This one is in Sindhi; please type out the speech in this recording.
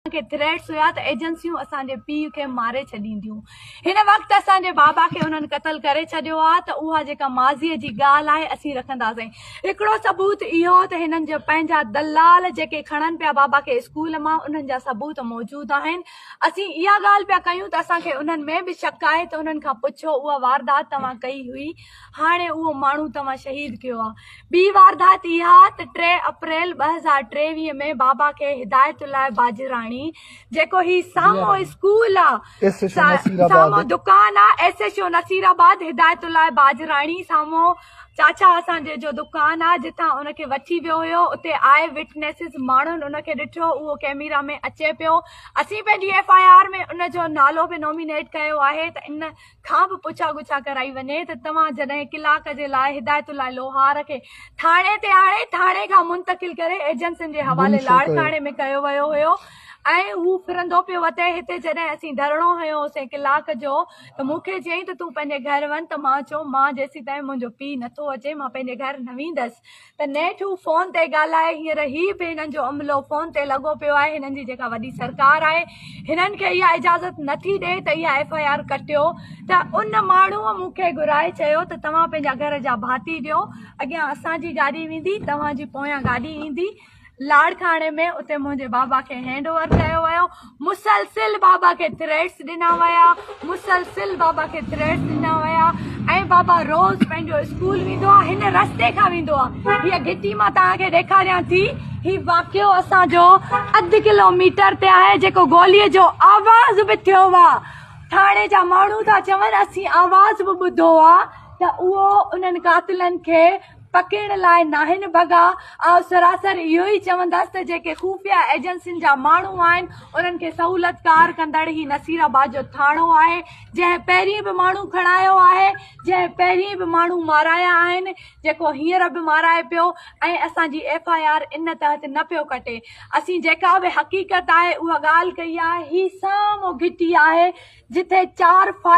اسان کي ٿريٽس هيا ته ايجنسيون اسان جي پيء کي ماري ڇڏينديون هن وقت اسان جي بابا کي انهن قتل ڪري ڇڏيو آهي ته اها جيڪا ماضي جي ڳالهه آهي اسين رکنداسين هڪڙو ثبوت اهو ته هنن جا پنهنجا دلال جيڪي کڻن پيا بابا کي اسڪول مان انهن جا ثبوت موجود آهن اسين اها ڳالهه پيا ڪيون ته اسان کي انهن ۾ به شڪ آهي ته انهن کان پڇو اها واردات توهان ڪئي هئي هاڻي اهو ماڻهو توهان شهيد ڪيو آ. ٻي واردات اها ته ٽي اپريل ٻه هزار ٽيويهه ۾ بابا کي هدايت الله باجراڻي جيڪو هي سامهون اسڪول آ سامهون دڪان آ S H O Nasirabad Hidayatullah باجراڻي سامهون چاچا اسان جي جو دڪان آ جتان ان کي وٺي ويو هيو اتي آء وٽنيسز ماڻهن ان کي ڏٺو اهو ڪيميرا ۾ اچي پيو اسين پنهنجي ايف آء آر ۾ ان جو نالو به نومينيٽ ڪيو آهي ته ان کان به پڇا ڳڇا ڪرائي وڃي ته توهان جڏهن ڪلاڪ جي لاء هدايت الله لوهار کي ٿاڻي تي آڻي ٿاڻي کان منتقل ڪري ايجنسين جي حوالي لاڙڪاڻي ۾ ڪيو ويو هيو ۽ هو ڦرندو پيو وتي هتي جڏهن اسين ڌرڻو هنيو هوسين ڪلاڪ جو ته مون کي چيائين ته تون پنهنجي گهر وڃ ته مان چيو مان جيسيتائين منهنجو پيء نٿو اچي مان پنهنجي گهر نه ويندس ته نيٺ هو فون تي ڳالهائي هينئر هي به هنن جو عملو فون تي لڳو پيو آهي هنن جي جيڪا وڏي سرڪار آهي هنن کي اها اجازت نٿي ڏئي ته اها ايف آء آر ڪٽيو ته ان ماڻهو مون کي گهرائي چيو ته توهان پنهنجا گهر جا ڀاتي ڏيو اڳيان اسان جي گاڏي ويندي توهان جي پويان گاڏي ايندي لاڙڪاڻي ۾ اتي منهنجي بابا کي هينڊ اوور ڪيو ويو مسلسل بابا کي ٿريٽس ڏنا ويا مسلسل بابا کي ٿريٽس ڏنا ويا ۽ بابا روز پنهنجو اسڪول ويندو آهي هن رستي کان ويندو آهي هي گهٽي مان توهان کي ڏيکاريان ٿي هي واقعو اسان جو اڌ ڪلوميٽر تي آهي جيڪو گولي جو آواز به ٿيو آهي ٿاڻي جا ماڻهو ٿا چون اسين آواز به ٻڌو آهي ته اهو انهن قاتلن کي پکيڙ لاء ناهن ڀڳا، آئون سراسر اهو ئي چوندس ته جيڪي خفيه ايجنسين جا ماڻهو آهن انهن کي سهولت ڪار ڪندڙ هي نصير آباد جو ٿاڻو آهي جنهن پهرين به ماڻهو کڻايو آهي جنهن پهرين به ماڻهو مارايا آهن جيڪو هينئر به مارائي پيو ۽ اسان جي ايف آء آر ان تحت نه پيو ڪٽي اسين جيڪا به حقيقت آهي اها ڳالهه ڪئي آهي هي سامهون گهٽي آهي جتي چار فائر